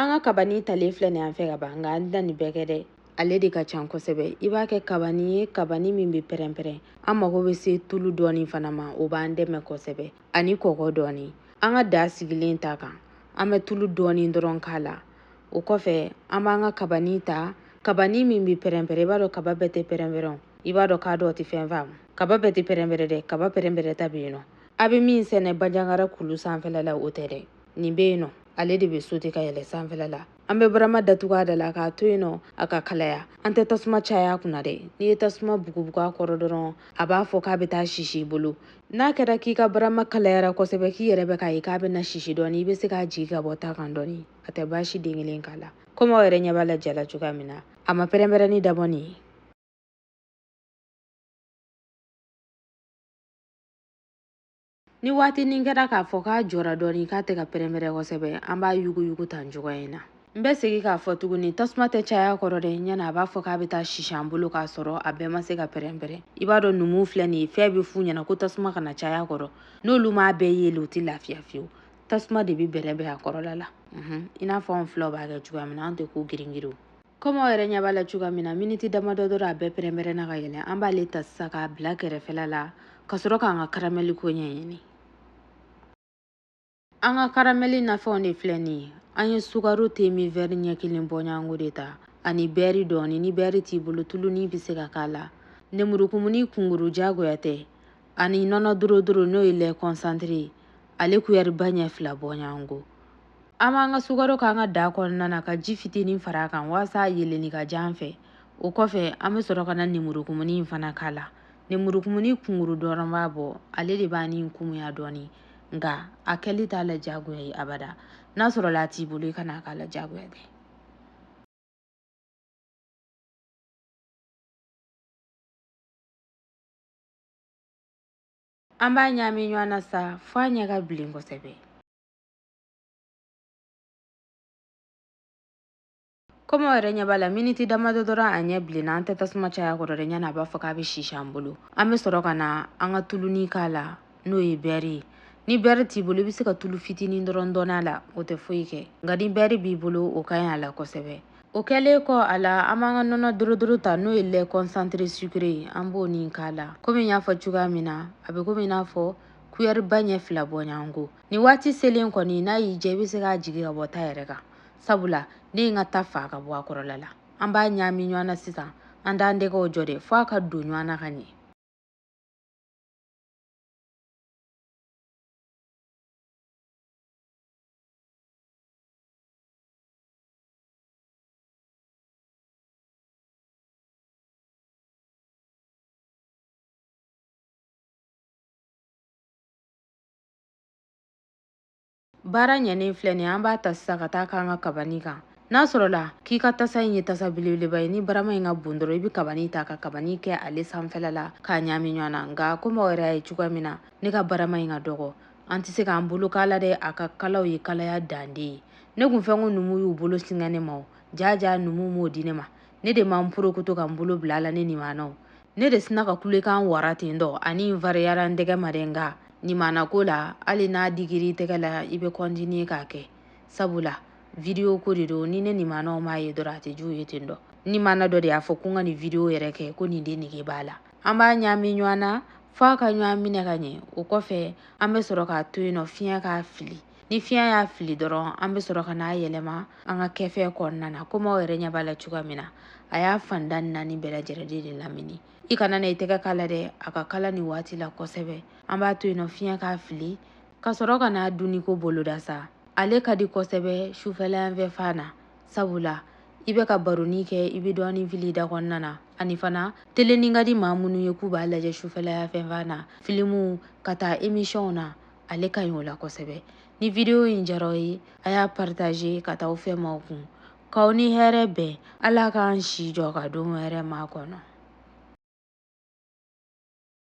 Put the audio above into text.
an ka kabani talen filɛ nin an fɛ ka ban nka an tɛna nin bɛɛ kɛ dɛ ale de ka can kosɛbɛ i b'a kɛ kabani ye kabani min bɛ pɛrɛnpɛrɛn an mago bɛ se tulu dɔɔni fana ma o b'an dɛmɛ kosɛbɛ ani kɔgɔ dɔɔni an ka da sigilen ta kan an bɛ tulu dɔɔni dɔrɔn k'a la o kɔfɛ an b'an ka kabani ta kabani min bɛ pɛrɛnpɛrɛn i b'a dɔn kaba bɛɛ tɛ pɛrɛnpɛrɛn i b'a dɔn kadɔw tɛ fɛn faamu kaba bɛɛ tɛ pɛrɛnpɛrɛn dɛ kaba pɛrɛnpɛrɛn ta bɛ yen nɔ a bɛ min sɛnɛ banjagara kulu sanfɛla la o tɛ dɛ nin bɛ yen nɔ ale de bɛ sote ka yɛlɛ sanfɛla la an bɛ barama datugu a da la k'a to yen nɔ a ka kalaya an tɛ tasuma caya a kunna dɛ n'i ye tasuma bugubugu a kɔrɔ dɔrɔn a b'a fɔ k'a bɛ taa sisi i bolo n'a kɛra k'i ka barama kalayara kosɛbɛ k'i yɛrɛ bɛ k'a ye k'a bɛna sisi dɔɔni i bɛ se k'a jigi ka bɔ ta kan dɔɔni a tɛ baasi den kelen k'a la komi aw yɛrɛ ɲɛ b'a la ja la cogoya min na a ma pɛrɛnpɛrɛnni dabɔ nin ye Ni waatinin kɛra k'a fɔ k'a jɔra dɔɔni k'a tɛ ka pɛrɛnpɛrɛn kosɛbɛ, an b'a yuguyugu tan cogoya in na. N bɛ segin k'a fɔ tuguni, tasuma tɛ caya a kɔrɔ dɛ, ɲani a b'a fɔ k'a bɛ taa sisi an bolo k'a sɔrɔ a bɛɛ ma se ka pɛrɛnpɛrɛn. I b'a dɔn numuw filɛ nin ye, fɛn bɛ f'u ɲɛna ko tasuma kana caya a kɔrɔ. N'olu m'a bɛɛ yeele, u tɛ lafiya fiyewu. Tasuma de bɛ bɛrɛbɛn a kɔrɔla la, unhun, i n'a fɔ anw filaw b'a kɛ cogoya min na, anw tɛ ko giringirinw. Kɔmi aw yɛrɛ ɲɛ b'a la cogoya min na miniti damadɔ dɔrɔn a bɛɛ pɛrɛnpɛrɛnna ka yɛlɛ an b'ale ta sisan k'a bila kɛrɛfɛla la ka sɔrɔ k'an ka karamɛli ko ɲɛɲini an ka karamɛli nafɛnw de filɛ nin ye an ye sukaro temin vɛri ɲɛ kelen bɔɲɔgɔnko de ta ani bɛɛri dɔɔni ni bɛɛri t'i bolo tuluni bɛ se ka k'a la nemurukumuni kunkuru jagoya tɛ ani nɔnɔ dorodoro n'o ye lɛ kɔnsantire ale kuyɛriba ɲɛ fila bɔɲɔgɔnko An b'an ka sukaro k'an ka da kɔnɔna na ka ji fitinin fara a kan walasa a yeelenni ka diya an fɛ o kɔfɛ an bɛ sɔrɔ ka na nemurukumuni in fana k'a la nemurukumuni kunkuru dɔrɔn b'a bɔ ale de b'a nin kumuya dɔɔni nka a kɛli t'a la diyagoya ye abada n'a sɔrɔla a t'i bolo i kana a k'a la diyagoya tɛ an b'a ɲaami ɲɔgɔn na sa f'a ɲɛ ka bilen kosɛbɛ Komi aw yɛrɛ ɲɛ b'a la miniti damadɔ dɔrɔn a ɲɛ bilenna an tɛ tasuma caya a kɔrɔ dɛ ɲani a b'a fɔ k'a bɛ sisi an bolo an bɛ sɔrɔ ka na an ka tuluni k'a la n'o ye bɛɛri ye ni bɛɛri t'i bolo i bɛ se ka tulu fitinin dɔrɔn don a la o tɛ foyi kɛ nka ni bɛɛri b'i bolo o ka ɲi a la kosɛbɛ o kɛlen kɔ a la an b'an ka nɔnɔ dorodoro ta n'o ye lait concentré sucré ye an b'o nin k'a la komi n y'a fɔ cogoya min na a bɛ komi i n'a fɔ kuyɛriba ɲɛ fila bɔɲɔgɔnko nin waati selen kɔni n'a y'i diya i bɛ se k'a jigi ka bɔ ta yɛrɛ kan sabula ne ye n ka ta fa ka bɔ a kɔrɔla la an b'a ɲaami ɲɔgɔn na sisan an t'an tɛgɛw jɔ dɛ f'a ka don ɲɔgɔn na ka ɲɛ baara ɲɛnen filɛ nin an b'a ta sisan ka taa k'an ka kabani kan n'a sɔrɔla k'i ka tasa in ye tasa belebeleba ye ni barama in ka bon dɔrɔn i bɛ kabani ta ka kabani kɛ ale sanfɛla la k'a ɲaami ɲɔgɔn na nka komi aw yɛrɛ y'a ye cogoya min na ne ka barama in ka dɔgɔ an tɛ se k'an bolo k'a la dɛ a ka kala o ye kalaya dan de ye ne kun fɛ ko numu y'u bolo singa ne ma o jaa jaa numu m'o di ne ma ne de ma n porokoto ka n bolo bila a la ne nimanaw ne de sinna ka kulekan wara ten dɔ ani n fariyara n tɛgɛ ma dɛ nka nimanako la hali n'a digir'i tɛgɛ la i bɛ kɔntiniye k'a kɛ sabula vidiyo ko de don ni ne nimanaw m'a ye dɔrɔn a tɛ diya u ye ten dɔ n nimana dɔ de y'a fɔ ko n ka nin vidiyo yɛrɛ kɛ ko nin de nege b'a la an b'a ɲaami ɲɔgɔn na f'a ka ɲɔgɔn minɛ ka ɲɛ o kɔfɛ an bɛ sɔrɔ k'a to yen nɔ fiɲɛ k'a fili ni fiɲɛ y'a fili dɔrɔn an bɛ sɔrɔ ka n'a yɛlɛma an ka kɛfɛ kɔnɔna na komi aw yɛrɛ ɲɛ b'a la cogoya min na a y'a fanda naani bɛɛ lajɛlen de lamini i kana na i tɛgɛ k'a la dɛ a ka kala nin waati la kosɛbɛ an b'a to yen nɔ fiɲɛ k'a fili ka sɔrɔ ka n'a dunni ko boloda sa ale ka di kosɛbɛ sufɛla yan fɛ fan na sabula i bɛ ka baroni kɛ i bɛ dɔɔnin fili i da kɔnɔna na ani fana telenin ka di maa minnu ye k'u b'a lajɛ sufɛla yan fɛ fan na filimuw ka taa emisiyɔnw na ale ka ɲi o la kosɛbɛ ni video in diyara aw ye a y'a partager ka taa aw fɛmaaw kun k'aw ni hɛrɛ bɛn ala k'an si jɔ ka don hɛrɛma kɔnɔ